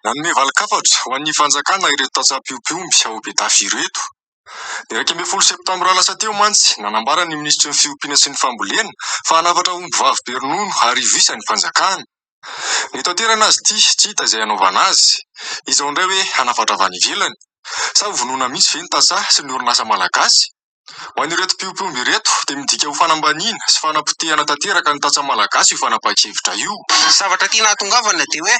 Nanome valin-kafatra ho an'ny fanjakana ireto tantsaha-mpiompy omby ao Betafo ireto. Ny iraika ambin'ny folo septambra lasa teo mantsy, nanambara ny minisitry ny Fiompiana sy ny Fambolena fa hanafatra ombivavy be ronono arivo isa ny fanjakana. Nitaterana azy ity, tsy hita izay hanaovana azy. Izao indray hoe hanafatra avy any ivelany? Sa hovonoina mihitsy ve ny tantsaha sy ny orinasa malagasy? Ho an'ireto mpiompy omby ireto dia midika ho fanambaniana sy fanapotehana tanteraka ny tantsaha malagasy io fanapahan-kevitra io. Ny zavatra tiana hahatongavana dia hoe,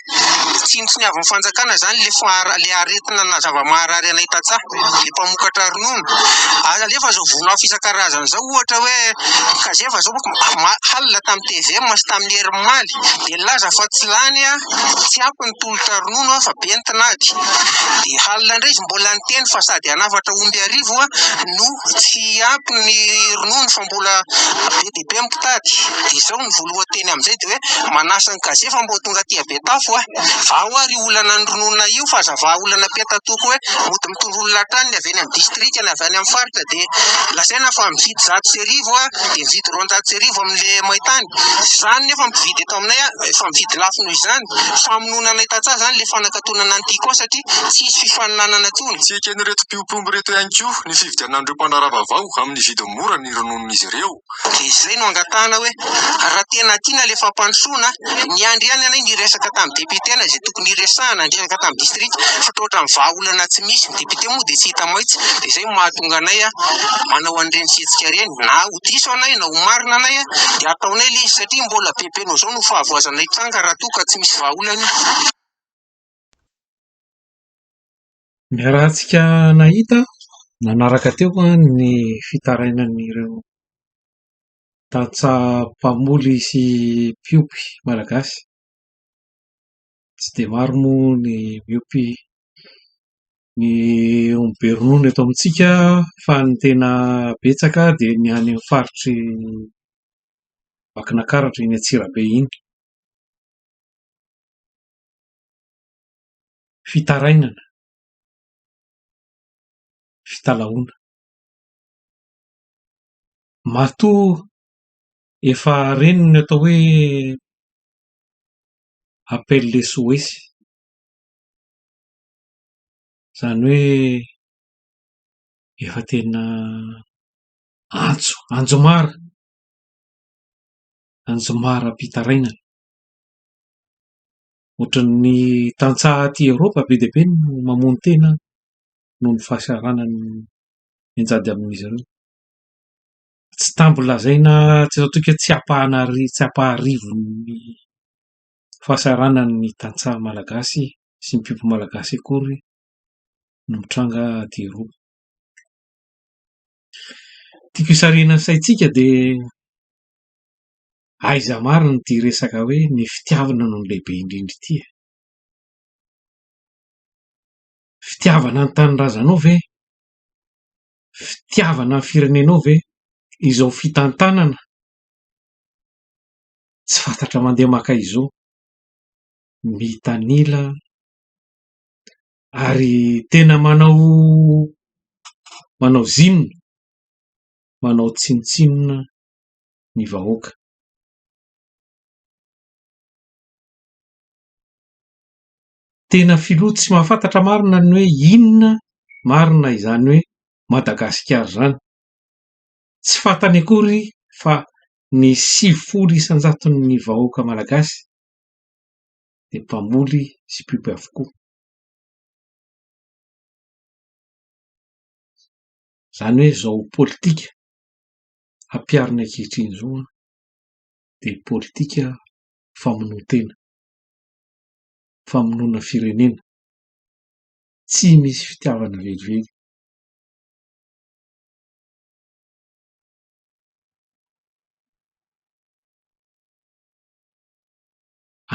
tsinontsiniavin'ny fanjakana izany ilay aretina na zava-maharary anay tantsaha. ny mpamokatra ronono. Ary alefa izao voninahitra isan-karazany izao, ohatra hoe Kazeva izao halina tamin'ny tvm sy tamin'ny herin'ny omaly, dia nilaza fa tsy lany, tsy ampy ny tolotra ronono fa be ny tinady. Dia halina indray izy mbola niteny fa sady hanafatra omby arivo no tsy ampy ny ronono fa mbola be dia be. Lehibe ny mpitady, dia izao ny voalohan-teny amin'izay dia hoe, manasa an'i Gazy fa mba ho tonga aty Betafo aho. Vao ary io olana nirononana io fa aza vaha olana peta-toko hoe mody mitondra olona hatrany ny avy eny amin'ny distrika, ny avy any amin'ny faritra dia lazaina fa mividy zato sy arivo aho dia mividy roanjato sy arivo amin'ilay main-tany. Tsy izany nefa mpividy eto aminay aho, efa mividy lafo noho izany. Famonoana anay tantsaha izany ilay fanakatonana ny tiako ahy satria tsy hisy fifaninanana intsony. Tsy eken'ireto mpiompy omby ireto ihany koa ny fividianan'ireo mpandraharaha vaovao amin'ny vidiny mirary. mora ny rononin'izy ireo, dia izay no angatahana hoe raha tena tiana ilay fampandrosoana, niandry ihany ianay niresaka tamin'ny depiotenay izay tokony hiresahana, niresaka tamin'ny distrika fa toa ohatran'ny vahaolana tsy misy, ny depiote moa dia tsy hita maitsy, dia izay no mahatonga anay manao an'ireny fihetsika ireny, na ho diso anay na ho marina anay dia ataonay ilay izy satria mbola bebe noho izao no fahavoazanay tranga raha toa ka tsy misy vahaolana io. Niarahantsika nahita nanaraka teo ny fitarainan'ireo tantsaha mpamoly sy mpiompy malagasy. Tsy dia maro moa ny miompy ny omby be ronono eto amintsika fa ny tena betsaka dia ny any amin'ny faritr'i Vakinankaratra, eny Antsirabe eny. fitarainana, fitalahoana. Matoa efa reny ny atao hoe appel SOS, izany hoe efa tena antso, anjomara, anjomaram-pitarainana. Ohatran'ny tantsaha aty Eoropa be dia be no mamono tena noho ny fahasahiranan'ny mianjady amin'izy ireo. Tsy tambo lazaina tsy eto an-toika hoe tsy ampahan'arivony tsy ampaharivon'ny fahasahiranany ny tantsaha malagasy sy ny mpiompy malagasy akory no mitranga aty Eoropa. Tiako hisarihana ny saintsika dia Aiza marina ity resaka hoe ny fitiavana no lehibe indrindra ity e? Fitiavana ny tanindrazanao ve? Fitiavana ny firenenao ve? Izao fitantanana tsy fantatra mandeha maka izao mitanila ary tena manao manao zinona manao tsinontsinona ny vahoaka. Tena filoha tsy mahafantatra marina ny hoe inona marina izany hoe Madagasikara izany. Tsy fantany akory fa ny sivifolo isan-jaton'ny vahoaka malagasy dia mpamoly sy mpiompy avokoa. Izany hoe zao politika hampiharina ankehitriny izao an, dia politika famonoan-tena, famonoana firenena, tsy misy fitiavana velively.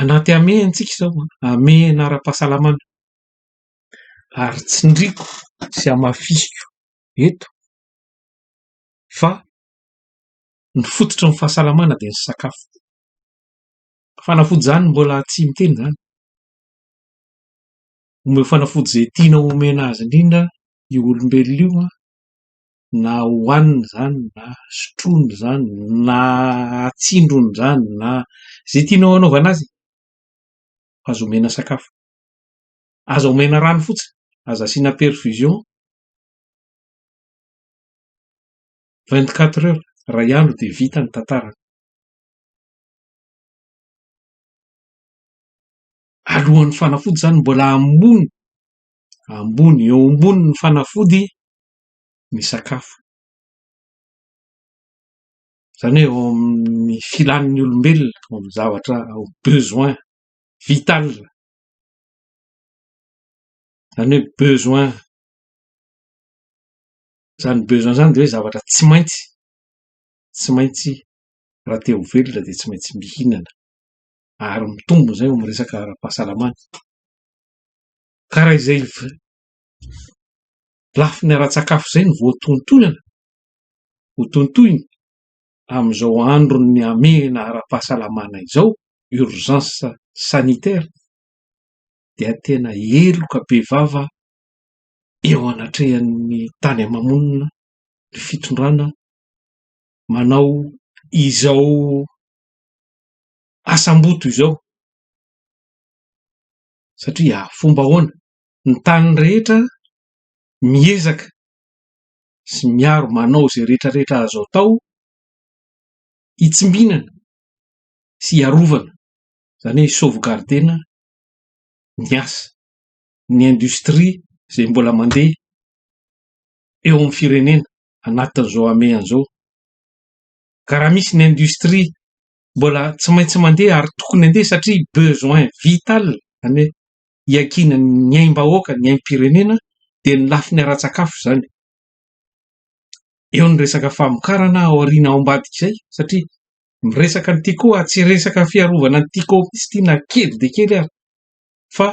Anaty hamehana isika izao an, hamehana ara-pahasalamana ary tsindriako sy hamafisiko eto, fa ny fototry ny fahasalamana dia ny sakafo. Fanafody izany mbola tsy miteny izany. Omeo fanafody izay tianao omena azy indrindra io olombelona io na hohaniny izany na sotroiny izany na atsindrony izany na izay tianao anaovana azy e. Aza omena sakafo. Aza omena rano fotsiny. Aza asiana perfusion. Vingt quatre heures, iray andro dia vita ny tantarany. Alohan'ny fanafody izany mbola ambony, ambony, eo ambonin'ny fanafody ny sakafo. Izany hoe eo amin'ny filan'ny olombelona, eo amin'ny zavatra besoin vital, izany hoe besoin Izany besoin izany dia hoe zavatra tsy maintsy, tsy maintsy raha te ho velona dia tsy maintsy mihinana ary mitombina izay eo amin'ny resaka ara-pahasalamana. Ka raha izay lafiny ara-tsakafo izay no voatontonana, hotontoina amin'izao andron'ny hamehana ara-pahasalamana izao, urgence sanitaire, dia tena heloka bevava eo anatrehan'ny tany ama-monina ny fitondrana manao izao asam-boto izao satria fomba ahoana? Ny tany rehetra miezaka sy miaro manao izay rehetra rehetra azo atao hitsimbinana sy hiarovana izany hoe hi-sauvegarder-na ny asa. ny industrie izay mbola mandeha eo amin'ny firenena anatin'izao hamehana izao. Ka raha misy ny industrie mbola tsy maintsy mandeha ary tokony handeha satria besoin vital any hiakiana ny aim-bahoaka, ny aim-pirenena dia ny lafiny ara-tsakafo izany. Eo ny resaka famokarana ao aoriana ao ambadik'izay satria miresaka an'ity koa tsy resaka fiarovana an'ity koa mihitsy ity na kely dia kely ary fa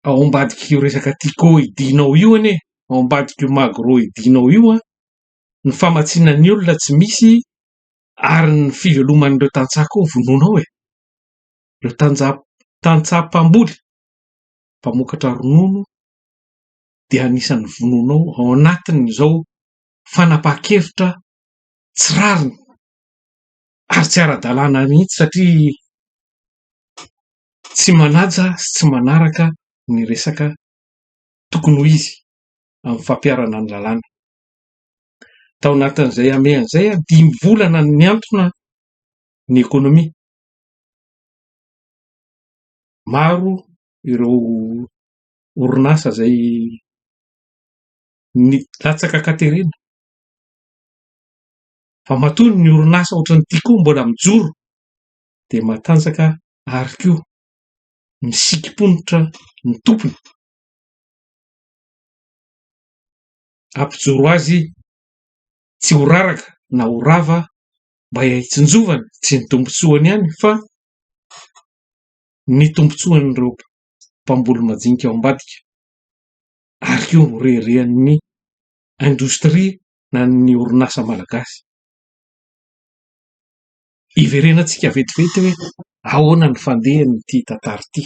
ao ambadik'io resaka Tiko hidinao io anie, ao ambadik'io Magro hidinao io an, ny famatsiana ny olona tsy misy ary ny fiveloman'ireo tantsaha koa vonoina ao e! ireo tanja- tantsaha mpamboly, mpamokatra ronono dia anisan'ny vonoina ao, ao anatin'izao fanapahan-kevitra tsy rariny ary tsy ara-dalàna mihitsy satria tsy manaja sy tsy manaraka ny resaka tokony ho izy amin'ny fampiharana ny lalàna. Tao anatin'izay hamehana izay, dimy volana no nihantona ny ekonomia. Maro ireo orinasa izay nilatsaka an-katerena, fa matoa ny orinasa ohatran'ity koa mbola mijoro. dia matanjaka ary koa misikim-ponitra ny tompony hampijoro azy tsy ho raraka na ho rava mba hitsinjovany tsy ny tombontsoany ihany fa ny tombontsoan'ireo mpamboly majinika ao ambadika ary koa ho reharehan'ny indostria na ny orinasa malagasy. hiverenantsika vetivety hoe ahoana ny fandehan'ity tantara ity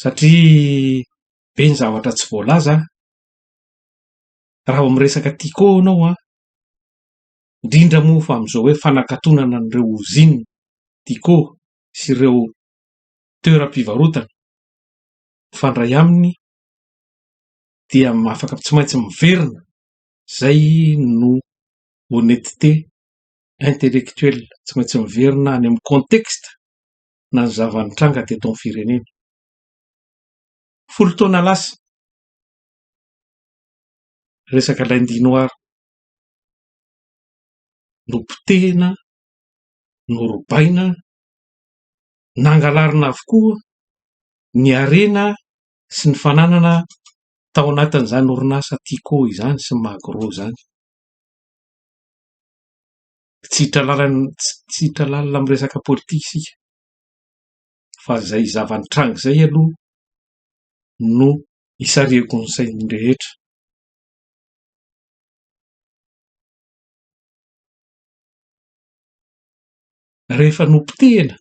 satria be ny zavatra tsy voalaza raha vao miresaka Tiko ianao an, indrindra moa fa amin'izao hoe fanakatonana an'ireo ozinina Tiko sy ireo toeram-pivarotana mifandray aminy dia afaka tsy maintsy miverina izay no honnetete intellectuel tsy maintsy miverina any amin'ny contexte na ny zava-nitranga teto amin'ny firenena. Folo taona lasa, resaka lundi noir nopotehina, norobaina, nangalarina avokoa ny harena sy ny fananana tao anatin'izany orinasa Tiko izany sy ny Magro izany. tsy hiditra lalana tsy hiditra lalina amin'ny resaka politika isika fa izay zava-nitranga izay aloha no isarihako ny sain'ny rehetra. Rehefa nopotehina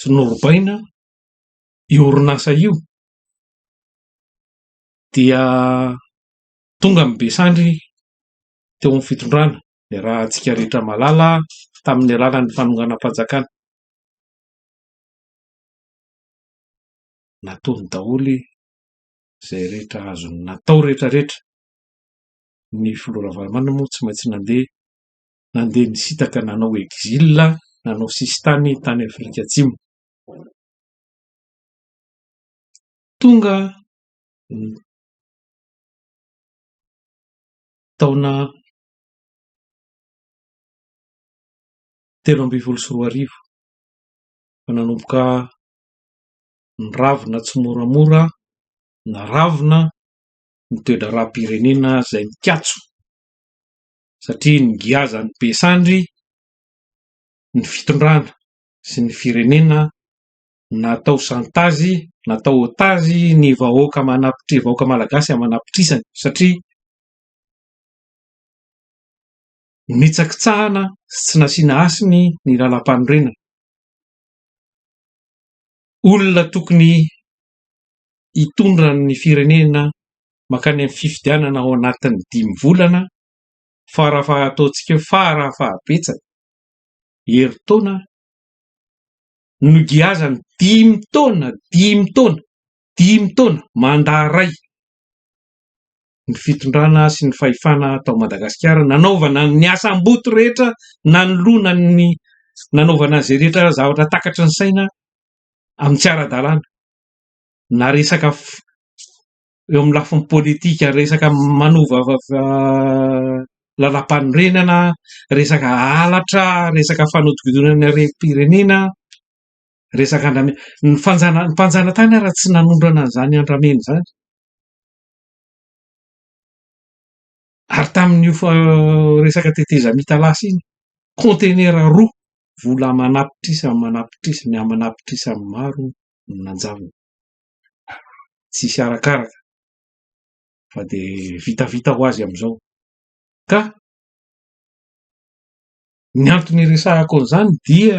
sy norobaina io orinasa io dia Tonga ny be sandry teo amin'ny fitondrana, niarahantsika rehetra malala tamin'ny alalan'ny fanonganam-panjakana. Nataony daholo izay rehetra azony natao rehetra rehetra. Ny filoha Ravalomanana moa tsy maintsy nandeha, nandeha nisintaka nanao exil, nanao sisintany tany Afrika Atsimo. Tonga ny taona telo ambin'ny folo sy roa arivo fa nanomboka niravona tsimoramora naravona ny toe-draharaham-pirenena izay mikatso satria ny giazan'ny be sandry ny fitondrana sy ny firenena natao chantage, natao otage ny vahoaka manapitri- vahoaka malagasy aman'apitrisany satria nitsakitsahana sy tsy nasiana hasiny ny lalam-panorenana. Olona tokony hitondra ny firenena mankany amin'ny fifidianana ao anatin'ny dimy volana fara faha- ataontsika hoe fara fahabetsany, herintaona, nogiazany dimy taona, dimy taona, dimy taona, mandat iray ny fitondrana sy ny fahefana tao Madagasikara nanaovana ny asam-boto rehetra nanoloana ny nanaovana izay rehetra zavatra takatry ny saina amin'ny tsy ara-dalàna na resaka eo amin'ny lafiny politika resaka manova lalam-panorenana, resaka halatra, resaka fanodinkodinana ny harem-pirenena, resaka andramena. Ny fanjana ny mpanjanatany ary tsy nanondrana an'izany andramena izany. Ary tamin'io resaka tetezamita lasa iny, kaontenera roa vola aman'apitrisa aman'apitrisa miha aman'apitrisa maro no nanjanona. tsisy arakaraka fa de vitavita ho azy amizao ka ny antony iresahako anzany dia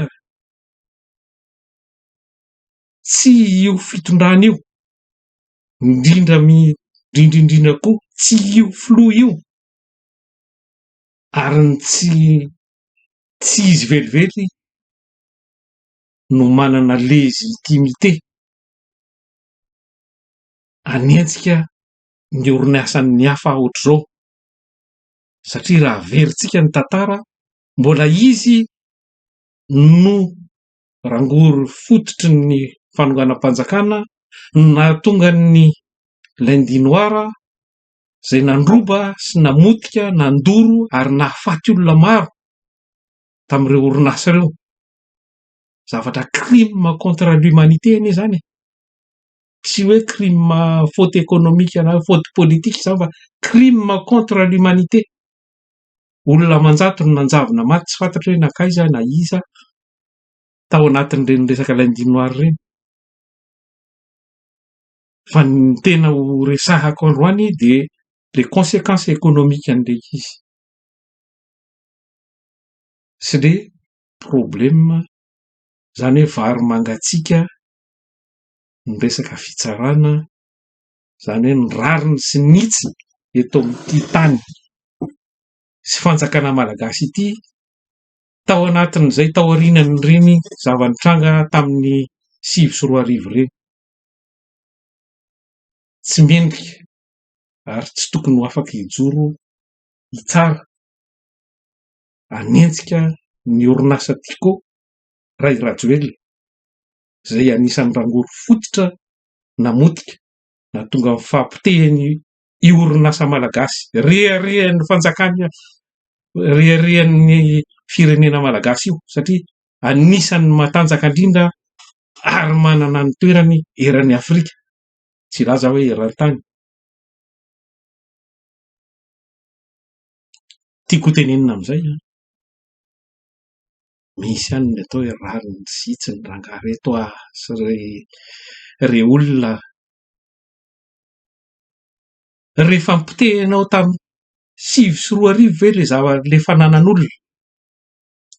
tsy io fitondrana io indrindra mi indrindra indrindra koa tsy io filoha io ary ny tsy tsy izy velively no manana légitimité hanenjika ny orinasan'ny hafa ohatr'izao satria raha averintsika ny tantara mbola izy no rangory fototry ny fanonganam-panjakana no nahatonga ny lundi noir izay nandroba sy namotika, nandoro ary nahafaty olona maro tamin'ireo orinasa ireo. zavatra crime contre l'humanité anie izany e! tsy hoe crime faute économique na faute politique izany fa crime contre l'humanité, olona aman-jato no nanjavona maty tsy fantatro hoe nankaiza na iza tao anatin'ireny resaka lundi noir ireny fa ny tena ho resahako androany dia les consequences économiques an'ilay izy sy ny problème zany hoe vary mangatsiaka ny resaka fitsarana zany hoe ny rariny sy ny hitsiny eto amin'ity tany sy fanjakana malagasy ity tao anatin'izay tao aorianan'ireny zava-nitranga tamin'ny sivy sy roa arivo ireny tsy mendrika ary tsy tokony ho afaka hijoro hitsara hanenjika ny orinasa Tiko Ray Rajoelina izay anisan'ny rangory fototra namotika nahatonga ny fahapotehan'ny orinasa malagasy reharehan'ny fanjakana reharehan'ny firenena malagasy io satria anisan'ny matanjaka indrindra ary manana ny toerany eran'ny afrika tsy hilaza aho hoe eran-tany Tiako hotenenina amin'izay an, misy ihany ny atao hoe rariny tsy vitsy ny rangahy ireto a, sy ry ry olona rehefa nopotehinao tamin'ny sivy sy roa arivo ve ilay zava- ilay fananan'olona,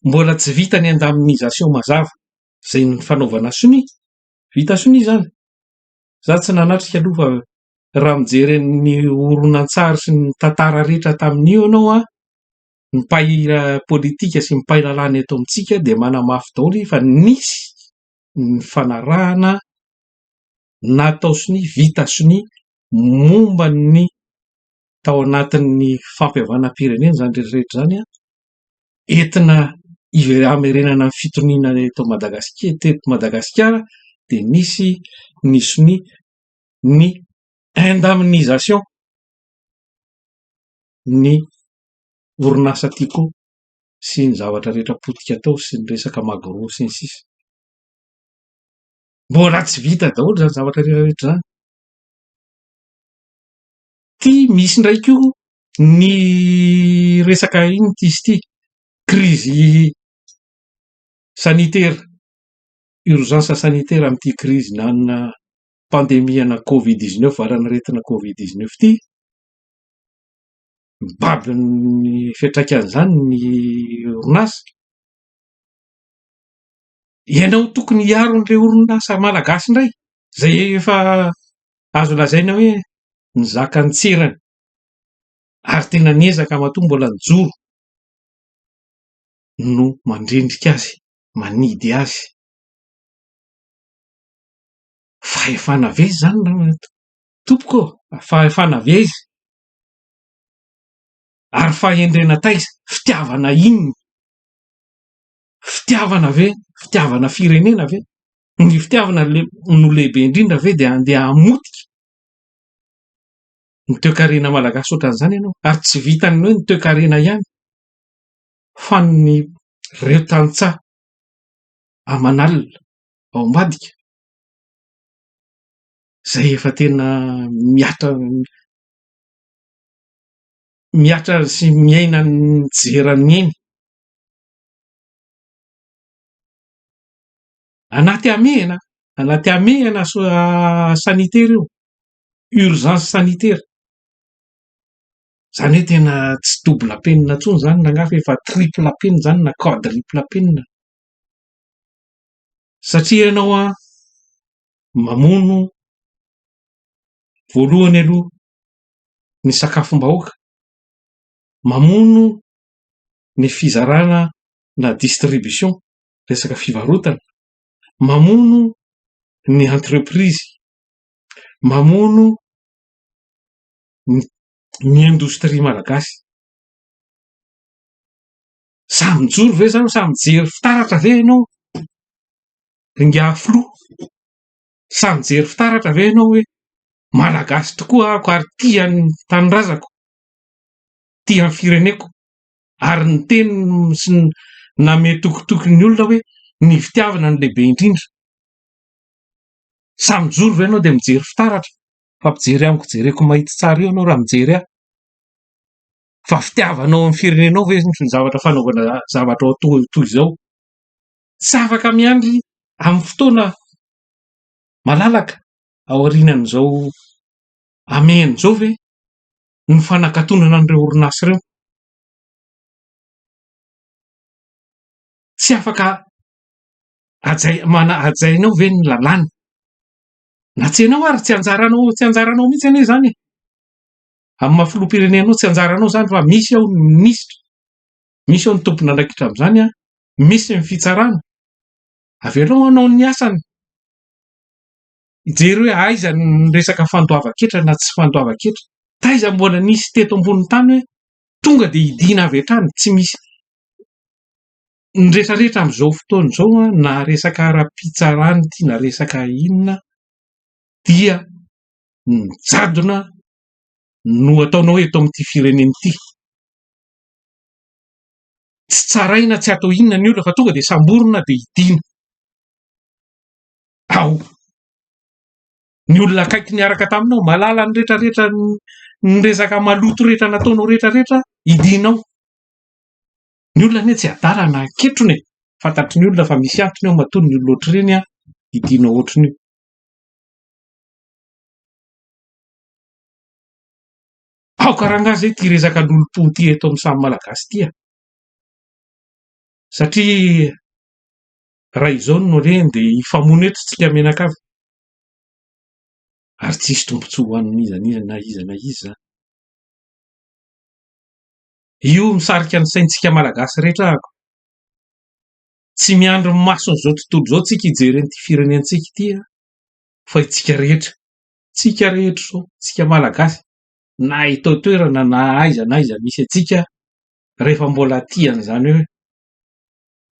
mbola tsy vita ny indemnisation mazava, izay ny fanaovana sonia, vita sonia izany? Izaho tsy nanatrika aloha fa raha mijery ny horonantsary sy ny tantara rehetra tamin'io ianao an, ny mpay politika sy ny mpay lalàna eto amintsika dia manamafy daholo fa nisy ny fanarahana natao sonia, vita sonia momba ny tao anatin'ny fampihavanam-pirenena izany rehetra rehetra izany an. entina hamerenana ny fitoniana eto Madagasikara, teto Madagasikara dia misy ny sonia ny indemnisation ny orinasa Tiko sy ny zavatra rehetra potika tao sy ny resaka Magro sy ny sisa. Mbola tsy vita daholo izany zavatra rehetra rehetra izany. Ity misy indray koa ny resaka inona ity izy ity, krizy sanitera, urgence sanitaire amin'ity krizy na amina pandemie ana covid dix neuf, valan'aretina covid dix neuf ity. Mibaby ny fiantraikan'izany ny orinasa. Ianao tokony hiaro an'ireo orinasa malagasy indray izay efa azo lazaina hoe nizaka an-tserany ary tena niezaka matoa mbola nijoro no mandrendrika azy, manidy azy. Fahefana ve izany tompoko ô? Fahefana ve izy? Ary fahendrena taiza? Fitiavana inona? Fitiavana ve? Fitiavana firenena ve? Ny fitiavana no lehibe indrindra ve dia andeha hamotika ny toekarena malagasy ohatran'izany ianao? Ary tsy vitan'ny hoe ny toekarena ihany fa ny ireo tantsaha aman'alina ao ambadika izay efa tena mihatra mihatra sy miaina ny tsy jeran'ny ainy. Anaty hamehana, anaty hamehana sanitaire io, urgence sanitaire. Izany hoe tena tsy double penina intsony izany na angaha fa efa triple penina izany na quadruple penina. Satria ianao an, mamono voalohany aloha ny sakafom-bahoaka, mamono ny fizarana na distribution, resaka fivarotana, mamono ny entreprise, mamono ny indostria malagasy. Samy mijoro ve izany, samy mijery fitaratra ve ianao ingahy filoha, sa mijery fitaratra ve ianao hoe malagasy tokoa aho ka ary tia ny tanindrazako, tia ny fireneko. Ary niteny sy namehy tokitoky ny olona hoe, Ny fitiavana no lehibe indrindra. Sa mijoro ve ianao dia mijery fitaratra? Fa mpijery amiko, jereko mahitsy tsara io ianao raha mijery ahy. Fa fitiavanao ny firenenao ve ny zavatra fanaovana zavatra toa izao? Tsy afaka miandry amin'ny fotoana malalaka aorianan'izao hamehana izao ve? ny fanakatonana an'ireo orinasa ireo. Tsy afaka hajainao ve ny lalàna? Na tsy ianao ary tsy anjaranao tsy anjaranao mihitsy anie izany e! Amin'ny maha filoham-pirenenao tsy anjaranao izany fa misy ao ny minisitra, misy ao ny tompon'andraikitra amin'izany, misy ny fitsarana. Avelao hanao ny asany. Mijery hoe aiza ny resaka fandoavan-ketra na tsy fandoavan-ketra. Taiza mbola nisy teto ambonin'ny tany hoe tonga dia hidiana avy hatrany, tsy misy. Ny retraretra amin'izao fotoana izao na resaka ara-pitsarana ity na resaka inona dia ny jadona no ataonao eto amin'ity firenena ity. Tsy tsaraina, tsy atao inona ny olona fa tonga dia samborina dia hidiana. ao. Ny olona akaiky niaraka taminao, mahalala ny rehetra rehetra ny resaka maloto rehetra nataonao rehetra rehetra hidinao. Ny olona anie tsy adala na ketrona e! Fantatry ny olona fa misy antony ao matoa ny olona ohatr'ireny hidinao ohatr'nio. Aoka rangah zay ty resaka lolompo ty eto amin'ny samy malagasy ty a! Satria Raha izao no re dia hifamono eto isika mianakavy ary tsisy tombontsoa ho an'ny iza n'iza na iza na iza izany. Io misarika ny saintsika Malagasy rehetra ahako. Tsy miandry ny mason'izao tontolo izao tsika hijery an'ity firenentsika ity fa itsika rehetra, tsika rehetra izao, tsika Malagasy na eto an-toerana na aiza na aiza misy antsika rehefa mbola tia an'izany hoe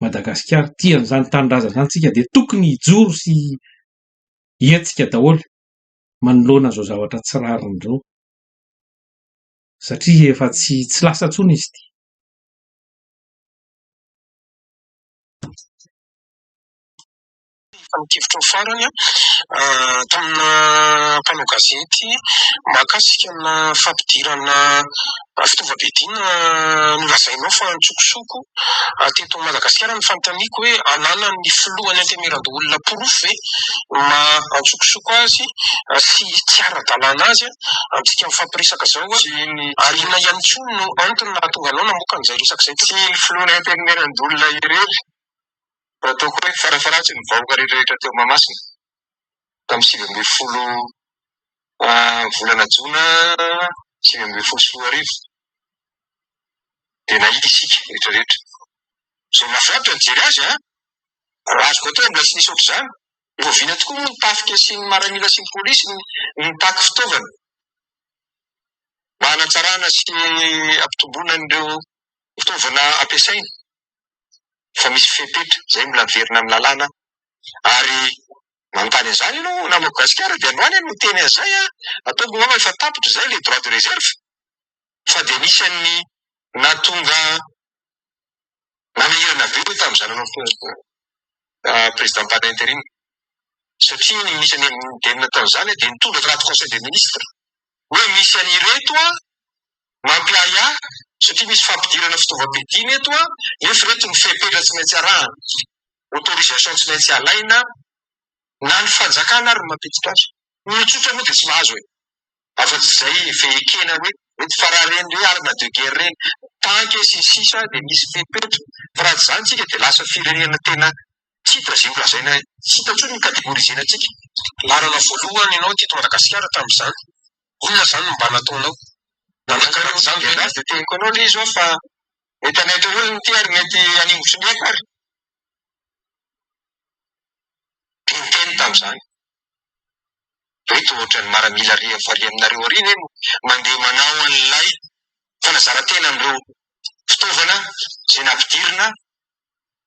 Madagasikara, tia an'izany tanindrazana izany isika dia tokony hijoro sy hihetsika daholo manoloana izao zavatra tsy rariny izao satria efa tsy tsy lasa intsony izy ity. Fanekevitrao farany tamina mpanao gazety mahakasika ana fampidirana fitaovam-piadiana nolazainao fa antsokosoko teto Madagasikara ny fanontaniako hoe ananan'ny filohan'ny antemeran-doholona porofo ve ny maha antsokosoko azy sy tsy ara-dalàna azy amintsika mifampiresaka izao ary inona ihany koa no antony nahatonga anao namoaka an'izay resaka izay? Tsy ny filohan'ny antemeran-doholona irery Raha toa koa hoe farafaharatsiny ny vahoaka rehetrarehetra teo Mahamasina tamin'ny sivy ambin'ny folo volana jona sivy ambin'ny folo sy roa arivo dia nahita isika rehetrarehetra. Izay nahafinaritra ny nijery azy an! Raha azoko atao mbola tsy nisy ohatr'izany. Oviana tokoa moa ny tafika sy ny maramila sy ny polisy no nitaky fitaovana mba hanatsarana sy hampitomboana an'ireo fitaovana ampiasaina? efa misy fepetra izay mbola miverina amin'ny lalàna ary manontany an'izany ianao namako gasikara dia androany aho no niteny an'izay an! ataoko angamba efa tapitra izay ilay droit de reserve fa dia anisan'ny nahatonga nanahirana be ny tamin'ny zanany president pana interim satria ny minisitry ny indemnité tao izany dia nitondra draft conseil des ministres hoe misy an'ireto an, mampiahiahy satria misy fampidirana fitaovam-piadiana eto an, nefa ireto ny fepetra tsy maintsy arahana, autorisation tsy maintsy alaina, na ny fanjakana ary no mampiditra azy. Ny olon-tsotra moa dia tsy mahazo e! afa tsy izay efa ekena hoe mety fa raha ireny hoe arme de guerre ireny, tanky sy ny sisa dia misy fepetra, fa raha tsy izany isika dia lasa firenena tena titre izay holazaina hita intsony ny categorisena antsika. Laharana voalohany ianao teto Madagasikara tamin'izany, inona izany no mba nataonao? Nanankarana izany ve ianao? Dia teneniko anao ilay izy hoe fa mety hanaiky ny olona ity ary mety haningotry ny aiko ary. Dia niteny tamin'izany hoe toa ohatran'ny maramila iray amin'ny farihy aminareo ary ve no mandeha manao an'ilay fanazaran-tena amin'ireo fitaovana izay nampidirina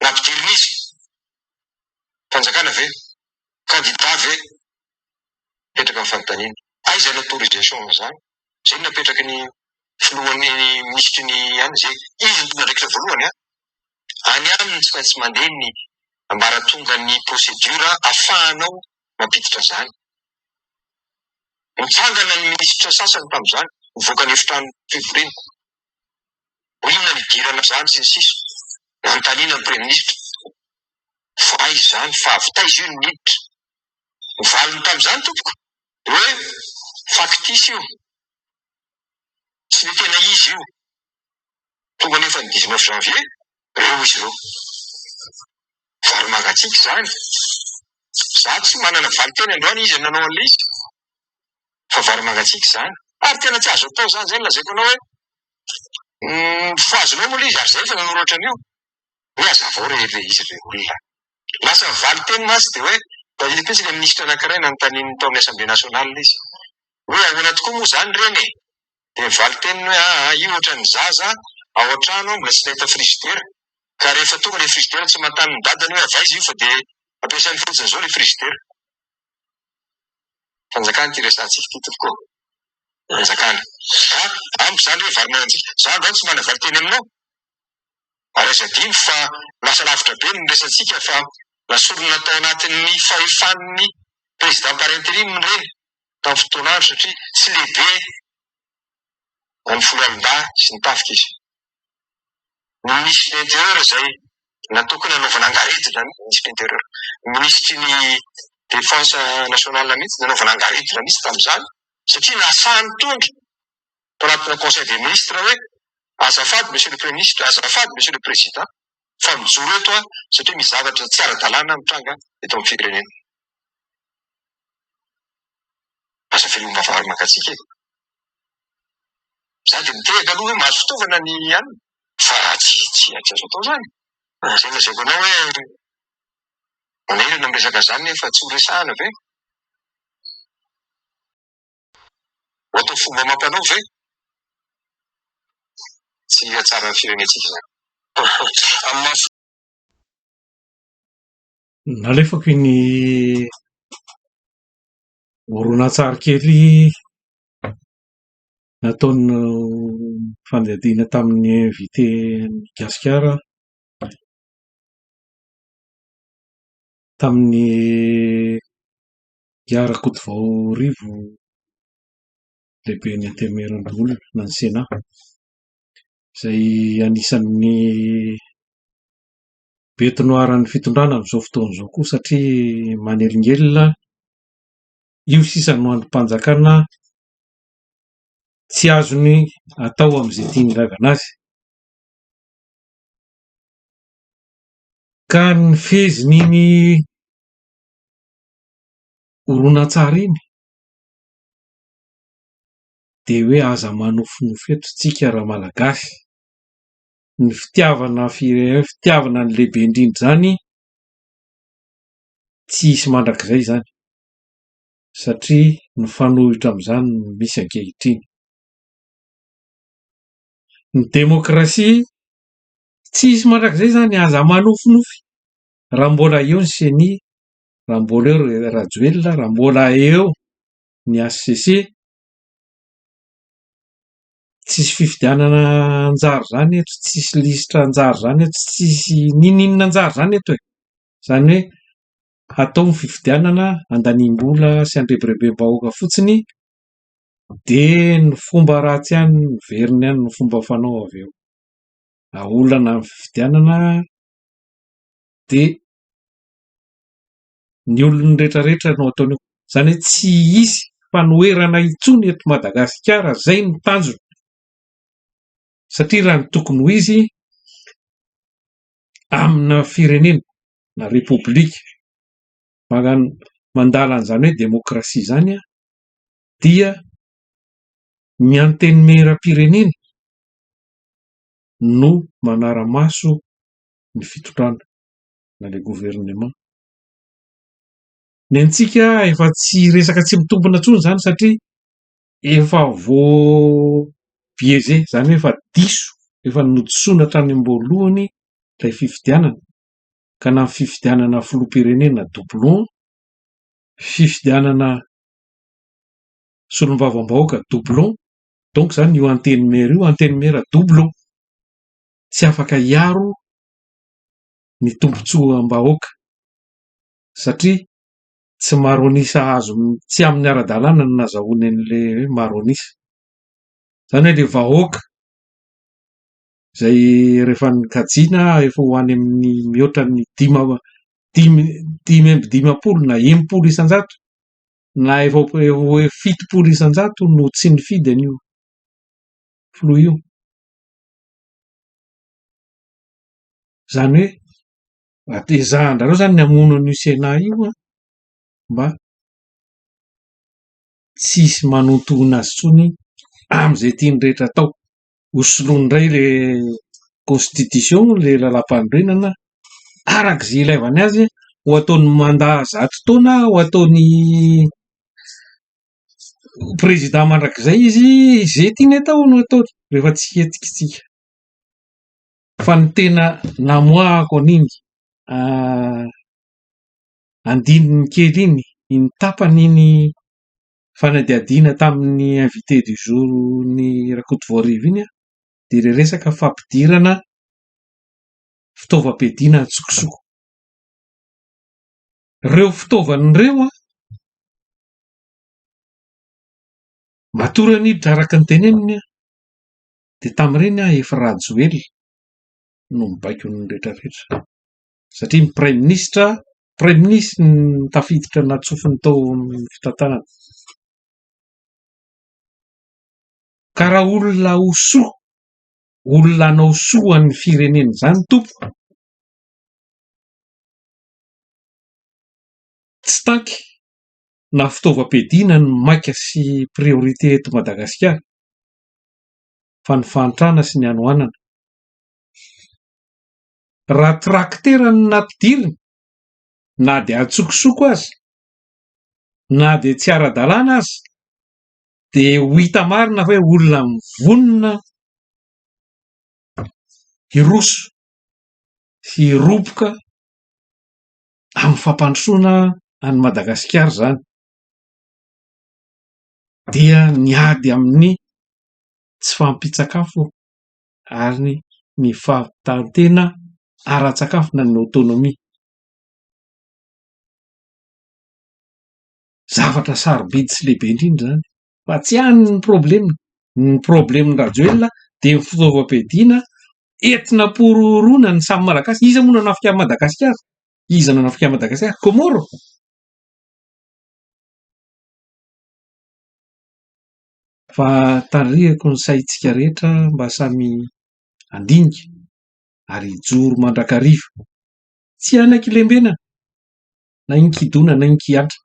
nampidirin'izy? Fanjakana ve? Kandida ve? Mipetraka ny fanontaniana. Aiza ny autorisation amin'izany? Izay no napetraky ny filohan'ny minisitry ny an izay. Izy no tompon'andraikitra voalohany an! Any aminy no tsy maintsy mandeha ny ambaratongan'ny procédure afahanao mampiditra izany. Nitsangana ny minisitra sasany tamin'izany, nivoaka ny efitrano fivoriana. Ho inona ny hidirana izany sy ny sisa Nanontaniana ny praiminisitra fa aiza izany fa avy taiza io ny miditra. Ny valiny tamin'izany tompoko dia hoe faktisy io, tsy ny tena izy io. Tonga anefa ny dix neuf janvier reo izy reo. Vary mangatsiaka izany. Za tsy manana valin-teny androany izy nanao an'ilay izy fa vary mangatsiaka izany. Ary tena tsy azo atao izany, izay no lazaiko anao hoe fa azonao moa ilay izy ary za efa nanoratra an'io. Hoe hazavao re ilay izy ilay olona. Lasa valin-teny mantsy dia hoe nahita tetsy ilay minisitra anankiray nanontanian'ny tao amin'ny Assemblée Nationale izy hoe ahoana tokoa moa izany reny e? dia valin-teniny hoe, aa io ohatran'ny zaza ao an-trano ao mbola tsy nahita frizidera, ka rehefa tonga ilay frizidera tsy manontany ny dadany hoe avy aiza io fa dia ampiasainy fotsiny izao ilay frizidera. Fanjakana ity resahantsika ity tompoko ô! Fanjakana. Ka amiko izany hoe vary manan-jika. Izaho angaha tsy manana valin-teny aminao, ary aza adino fa lasa lavitra be ny resahantsika fa na sorona tao anatin'ny fahefan'ny Président par interim ireny. tamin'ny fotoana andro satria tsy lehibe na ny foloalindahy sy ny tafika izy. Ny minisitry ny Intérieur izay natokona hanaovana angarediny izany ny minisitry ny Intérieur. Ny minisitry ny Défense nationale mihitsy nanaovana angaredona mihitsy tamin'izany satria nahasaha nitondra. mpanatrika conseil des ministres hoe azafady monsieur le premier ministre, azafady monsieur le président fa mijoro eto aho satria misy zavatra tsy ara-dalàna mitranga eto amin'ny firenena. Aza velom-bavahady mangatsiaka e! Za dia mitehaka aloha hoe mahazo fitaovana ny alina fa tsy tsy azo atao izany. Izay lazaiko anao hoe manahirana ny resaka izany nefa tsy ho resahana ve? Ohatra fomba amam-panao ve? Tsy hahatsara ny firenentsika izany. Amin'ny maha. Nalefako iny horonantsary kely nataon'ny fandiadiana tamin'ny invité an'i Gasikara tamin'ny I Rakotovaorivo lehiben'ny Antenimierandoholona na ny Sena, izay anisan'ny be tonoharan'ny fitondrana amin'izao fotoana izao koa satria manelingelina, io sisa no andrim-panjakana tsy azony atao amin'izay tiany hilaivana azy ka ny fezin'iny horonantsary iny dia hoe aza manofinofy eto isika raha malagasy ny fitiavana firenena fitiavana ny lehibe indrindra izany tsy hisy mandrakizay izany satria mifanohitra amin'izany no misy ankehitriny ny demokrasia tsy hisy mandrakizay izany aza manofinofy raha mbola eo ny ceni raha mbola eo ry Rajoelina, raha mbola eo ny HCC, tsisy fifidianana an-jary izany eto, tsisy lisitra an-jary izany eto, tsisy n'inon'inona an-jary izany eto e! Izany hoe hatao ny fifidianana handaniam-bola sy handrebirebem-bahoaka fotsiny dia ny fomba ratsy ihany no miverina ihany no fomba fanao avy eo. Raha olana ny fifidianana dia ny olony rehetra rehetra no ataony eo izany hoe tsy hisy fanoherana intsony eto Madagasikara izay no tanjony satria raha ny tokony ho izy amina firenena na repoblika mandala an'izany hoe demokrasia izany dia ny antenimierampirenena no manara-maso ny fitondrana na ilay gouvernement. Ny antsika efa tsy resaka tsy mitombina intsony izany satria efa voabiaiser, izany hoe efa diso, efa nodisoana hatrany am-boalohany ilay fifidianana, ka na ny fifidianana filoham-pirenena doublon, fifidianana solombavambahoaka doublon, donc izany io antenimiera io, antenimiera doublon, tsy afaka hiaro ny tombontsoam-bahoaka satria tsy maro an'isa azo, tsy amin'ny ara-dalàna no nazahoany an'ilay hoe maro an'isa. Izany hoe ilay vahoaka izay rehefa nokajiana efa ho any amin'ny mihoatra ny dimy amby dimy dimy amby dimampolo na enimpolo isan-jato na efa ho eo fitopolo isan-jato no tsy nifidy an'io filoha io. Izany hoe, atezahandrareo izany ny hamono an'io Sénat io an, mba tsy hisy manontohina azy intsony amin'izay tiany rehetra atao. Ho soloiny indray ilay constitution, ilay lalàmpanorenana, araka izay ilaivany azy, ho ataony mandat zato taona, ho ataony président mandrakizay izy, izay tiany atao no ataony, rehefa tsy hety isika. Fa ny tena namoahako an'iny andininy kely iny, iny tapany iny fanadihadiana tamin'ny invité du jour n'i Rakotovoarivo iny dia ilay resaka fampidirana fitaovam-piadiana an-tsokosoko. Ireo fitaovana ireo an, matoa Ranidra araka ny teneniny an, Dia tamin'ireny aho efa Rajoelina no mibaiko ny rehetra rehetra satria ny praiminisitra praiminisitra no tafiditra natsofony tao amin'ny fitantanana ka raha olona ho soa olona hanao soa ho an'ny firenena izany tompoko tsy tanky na fitaovam-piadiana no maika sy priorité eto Madagasikara fa ny fahantrana sy ny hanoanana. Raha trakitera no nampidirina, na dia an-tsokosoko aza, na dia tsy ara-dalàna aza, dia ho hita marina fa hoe olona mivonona hiroso sy hiroboka amin'ny fampandrosoana an'i Madagasikara izany. dia miady amin'ny tsy fahampian-tsakafo ary ny fahavitan-tena ara-tsakafo na ny autonomie. Zavatra sarobidy sy lehibe indrindra izany fa tsy any ny problema. Ny probleman-dRajoelina dia ny fitaovam-piadiana entina am-porohoroana ny samy Malagasy. Iza moa no hanafika an'i Madagasikara? Iza no hanafika an'i Madagasikara? Comores? Fa tarihiko ny saintsika rehetra mba samy handinika ary hijoro mandrakariva. Tsy hanaiky-lembenana na inkidona na inkiantra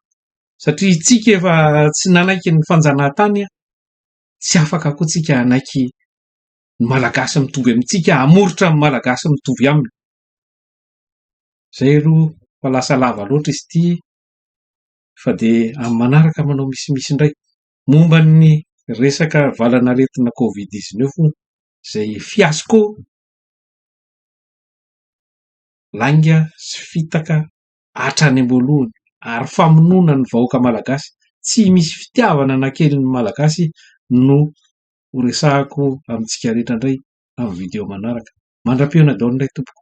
satria isika efa tsy nanaiky ny fanjanahantany an! Tsy afaka koa isika hanaiky ny Malagasy mitovy amintsika, hamoritra ny Malagasy mitovy aminy. Izay aloha fa lasa lava loatra izy ity. fa dia amin'ny manaraka manao misimisy indray. Momba ny resaka valanaretina covid dix neuf hono izay fiasco lainga sy fitaka hatrany am-boalohany ary famonoana ny vahoaka malagasy. Tsy misy fitiavana na kely ny malagasy no ho resahako amintsika rehetra indray amin'ny video manaraka. Mandra-pihaona daholo indray tompoko.